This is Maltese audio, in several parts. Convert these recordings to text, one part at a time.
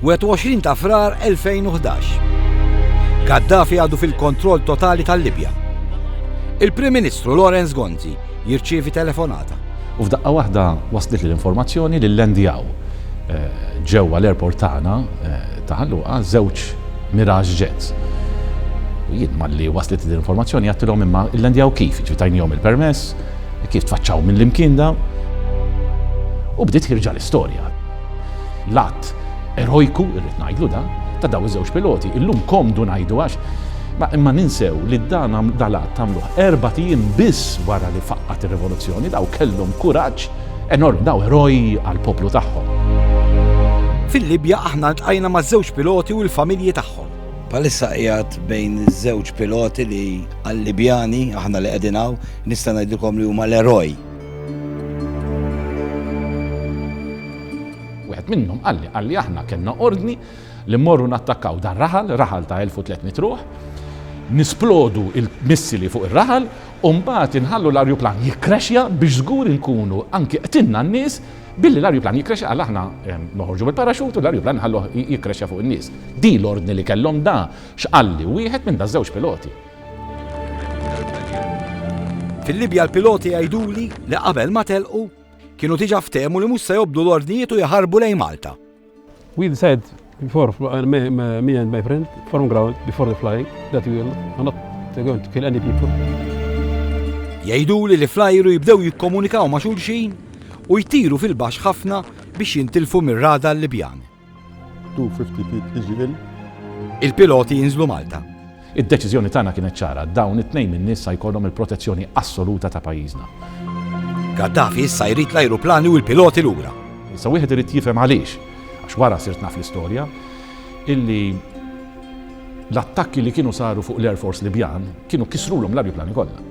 21 ta' Frar 2011. Gaddafi għadu fil-kontroll totali tal-Libja. Il-Prim Ministru Lawrence Gonzi jirċievi telefonata. U f'daqqa waħda waslet l-informazzjoni li llandjaw eh, ġewwa l-airport tagħna eh, ta' ħalluqa żewġ Mirage Jets. U jien malli waslet l-informazzjoni għattilhom imma llandjaw kif, ġifi tajnihom il-permess, kif tfaċċaw mill-imkien daw. U bdiet ħirġa l-istorja. L-att erojku, irrid ngħidlu dan, ta' dawn iż-żewġ piloti, illum komdu ngħidu għax ma imma ninsew li dan dal-att għamluh erbat ijiem biss wara li faqqgħet ir-rivoluzzjoni, dawn kellhom kuraġġ enormi, dawn eroj għall-poplu tagħhom. Fil-Libja aħna ltqajna maż-żewġ piloti u l-familji tagħhom. Bħalissa qiegħed bejn iż-żewġ piloti li għal-Libjani, aħna li qegħdin hawn, nista' ngħidilkom li huma l-eroj. Wieħed minnhom qalli, qalli aħna kellna ordni li mmorru nattakkaw dan raħal, raħal ta' 1300 ruħ, nisplodu il-missili fuq ir-raħal u mbagħad inħallu l-arjuplan jikkrexja biex żgur inkunu anki qtilna n-nies billi l-arjuplan jikkrexja għal aħna ehm, noħorġu bil-paraxut u l-arjuplan nħalluh jikkrexja fuq in-nies. Di l-ordni li kellhom da x'qalli wieħed minn daż-żewġ piloti. Fil-Libja l-piloti jgħiduli li qabel ma telqu kienu diġa ftehmu li mhux se jobdu l-ordnijiet u jaħarbu lejn Malta. We decided before, uh, me, me and my friend, from ground, before the flying, that we will not going to kill any people. Jgħiduli li flajru jibdew jikkomunikaw ma' xulxin u jtiru fil-bax ħafna biex jintilfu mir-rada l-Libjani. 250 feet iġi il. Il-piloti jinżlu Malta. Id-deċiżjoni tagħna kienet ċara, dawn it-tnejn min-nies sa jkollhom il-protezzjoni assoluta ta' pajjiżna. Gaddafi issa jrid l-ajruplani u l-piloti lura. Issa wieħed irid jifhem għaliex, għax wara sirt naf l-istorja, illi l-attakki li kienu saru fuq l-Air Force Libjan kienu kisrulhom l-arjuplani kollha.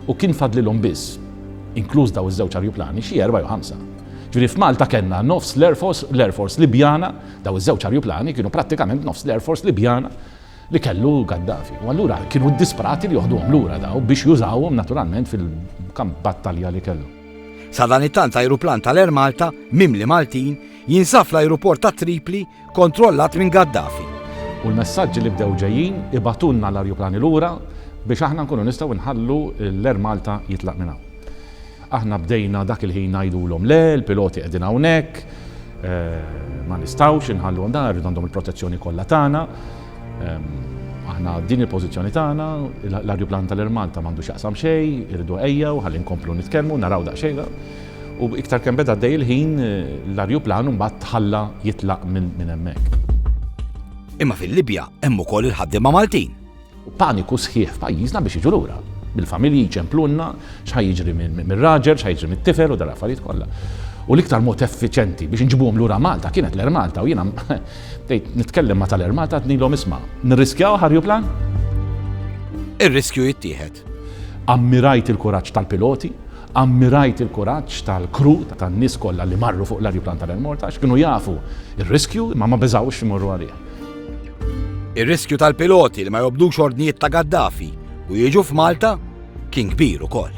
U kien fadlilhom biss, inkluż daw iż-żewġ arjuplani, xi erba' jew ħamsa. Ġifieri f'Malta kellna nofs l-Air Force, l-Air Force Libjana, dawn iż-żewġ arjuplani kienu prattikament nofs l-Air Force Libjana li kellu Gaddafi. U allura kienu ddisprati li joħduhom lura daw biex jużawhom naturalment fil-kamp battalja li kellu. Sadanittant ajruplan tal-Air Malta, mimli Maltin, jinsab fl-ajruport ta' Tripli kontrollat minn Gaddafi. U l-messaġġi li bdew ġejjin ibagħtulna l-arjuplani lura biex aħna nkunu nistgħu nħallu l-Air Malta jitlaq minn hawn. Aħna bdejna dak il-ħin ngħidulhom le, l-piloti qegħdin hawnhekk, ma nistgħux inħalluhom dan, irridu għandhom il-protezzjoni kollha tagħna. Aħna din il-pożizzjoni tagħna, l-arjuplan tal-Air Malta m'għandu x'jaqsam xejn, irridu ejjew ħalli nkomplu nitkellmu, naraw daqsxejn. U iktar kemm beda għaddej il-ħin, l-arjuplan mbagħad tħalla jitlaq minn hemmhekk. Imma fil-Libja hemm ukoll il-ħaddiema Maltin. Paniku sħiħ f'pajjiżna biex jiġu lura bil-familji jċemplunna x'ħa jiġri mir-raġel, x'ħa jiġri mit-tifel u dal affarijiet kollha. U l-iktar mod effiċenti biex nġibuhom lura Malta kienet l-Air Malta u jiena bdejt nitkellem ma tal-Air Malta tnilhom isma' nirriskjaw ħarju plan? Ir-riskju jittieħed. Ammirajt il-kuraġġ tal-piloti Ammirajt il-kuraġġ tal-crew tan-nies kollha li marru fuq l-ajruplan tal-Air Malta għax kienu jafu r-riskju imma ma beżgħux imorru għalih. Ir-riskju tal-piloti li ma jobdux ordnijiet ta' Gaddafi u jiġu f'Malta kien kbir ukoll.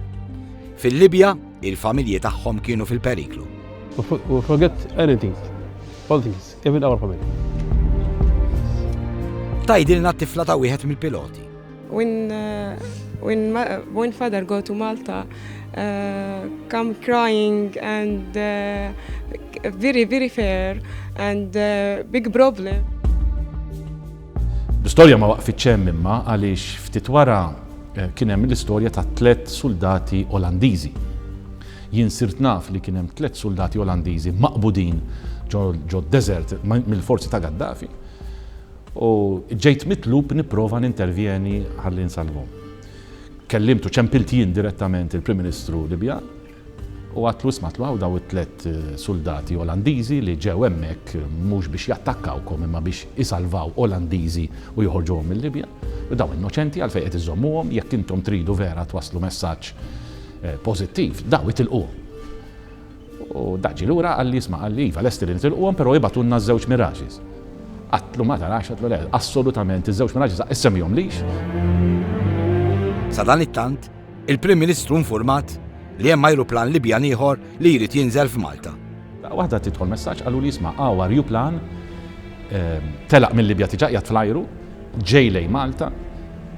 Fil-Libja, il-familji tagħhom kienu fil-periklu. Tgħidilna t-tifla ta' wieħed mill-piloti. When, uh, when, my, when father go to Malta, uh, come crying and uh, very, very fair and uh, big problem. L-istorja ma waqfit ċem imma għaliex ftit wara eh, kien hemm l-istorja ta' tlet soldati Olandiżi. Jien sirt naf li kien hemm tlet soldati Olandiżi maqbudin ġo desert mill-forzi ta' Gaddafi. U ġejt mitlub nipprova nintervjeni ħalli nsalvhom. Kellimt u ċempilt jien direttament il-Prim Ministru Libjan u għadtlu isma' tlu hawn daw it-tliet suldati Olandiżi li ġew hemmhekk mhux biex jattakkawkom imma biex isalvaw Olandiżi u joħorġuhom mil-Libja. U dawn innoċenti għalfejn qed iżommuhom jekk intom tridu vera twasslu messaġġ pożittiv, daw itilquhom. U dak ġie lura qalli, isma' qalli, iva lesti li nitilquhom però ibagħtulna ż-żewġ Mirages. Għadtlu ma tarax, għadtlu le, assolutament, iż-żewġ Mirages aqqis semmihomlix. Sadanittant, il-Prim Ministru nfurmat li hemm ajruplan Libjan ieħor li jrid jinżel f'Malta. Daqqa waħda tidħol messaġġ qaluli, isma' hawn arjuplan telaq mil-Libja tiġa qiegħed fl-ajru, Ġej lejn Malta,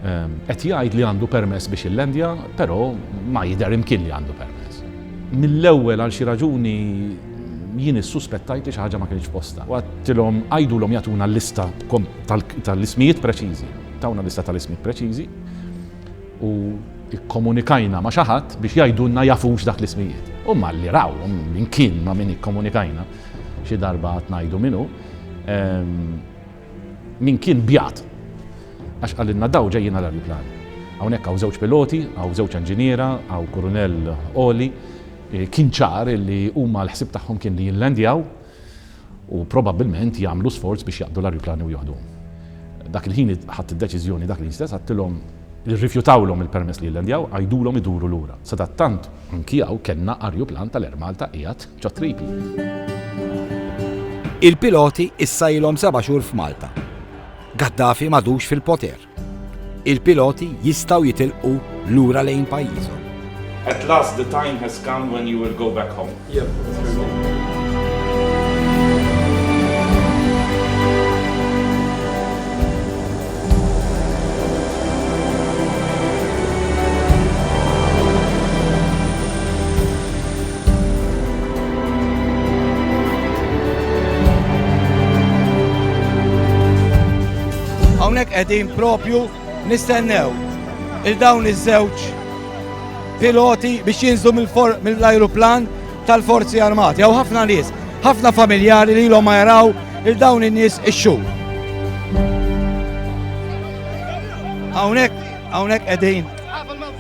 qed jgħid li għandu permess biex illandja, però ma jidher imkien li għandu permess. Mill-ewwel għal xi raġuni jien issuspettajt li xi ħaġa ma kinitx f'postha. U għedtilhom għidulhom jagħtuna lista tal-ismijiet preċiżi. Tawna lista tal-ismijiet preċiżi u kkomunikajna ma' xi ħadd biex jgħidulna jafux dak l-ismijiet. U malli rawhom min kien ma' min ikkomunikajna, xi darba għad ngħidu min hu, Min kien bjat? Għax qalilna daw ġejjin għal ajruplan. Hawnhekk hawn żewġ piloti, hawn żewġ enġiniera, hawn kurunell għoli. Kien ċar li huma l-ħsieb tagħhom kien li jillandjaw u probabbilment jagħmlu sforz biex jaqbdu l-ajruplani u joħduhom. Dak il-ħin ħadt id-deċiżjoni dak l-ħin stess għadtilhom li rrifjutawlhom il-permess li jillandjaw, għidulhom iduru lura. Sadattant anki hawn kellna ajruplan tal-Air Malta qiegħed. Il-piloti issa ilhom seba' xhur f'Malta. Gaddafi m'għadux fil-poter. Il-piloti jistgħu jitilqu lura lejn pajjiżhom. At last the time has come when you will go back home. Hawnhekk qegħdin propju nistennew il dawn iż-żewġ piloti biex jinżlu mill-ajruplan tal-Forzi Armati. Hawn ħafna nies, ħafna familjari li l-om jaraw il dawn in-nies ix-xhur. Hawnhekk hawnhekk qegħdin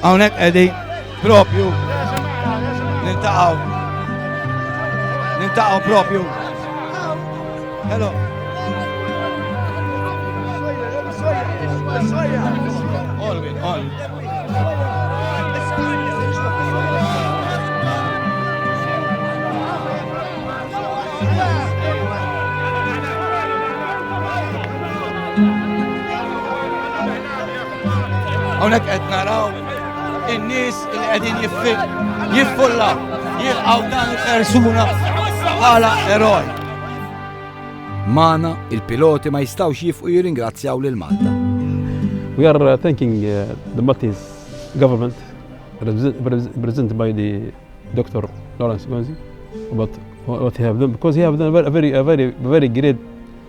Hawnhekk qegħdi propju nintaqgħu. Nintaqgħu propju. Hello. All win, all. Hawnhekk qed naraw in-nies li qegħdin jiffulla jilqgħu dan il-persuna bħala eroj. Mana, il-piloti ma jistawx jifqu jiringrazzjaw lil Malta. We are uh, thanking uh, the Maltese government represented by the Dr. Lawrence Gonzi about what he have done because he have done a very, a very, very great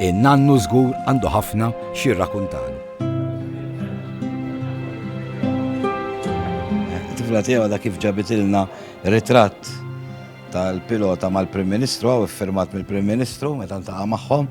In-nannu żgur għandu ħafna x'jirrakuntalu. It-tifla tiegħu għadha kif ġabitilna ritratt tal-pilota mal-Prim Ministru u iffirmat mill-Prim Ministru meta ntaqa' magħhom.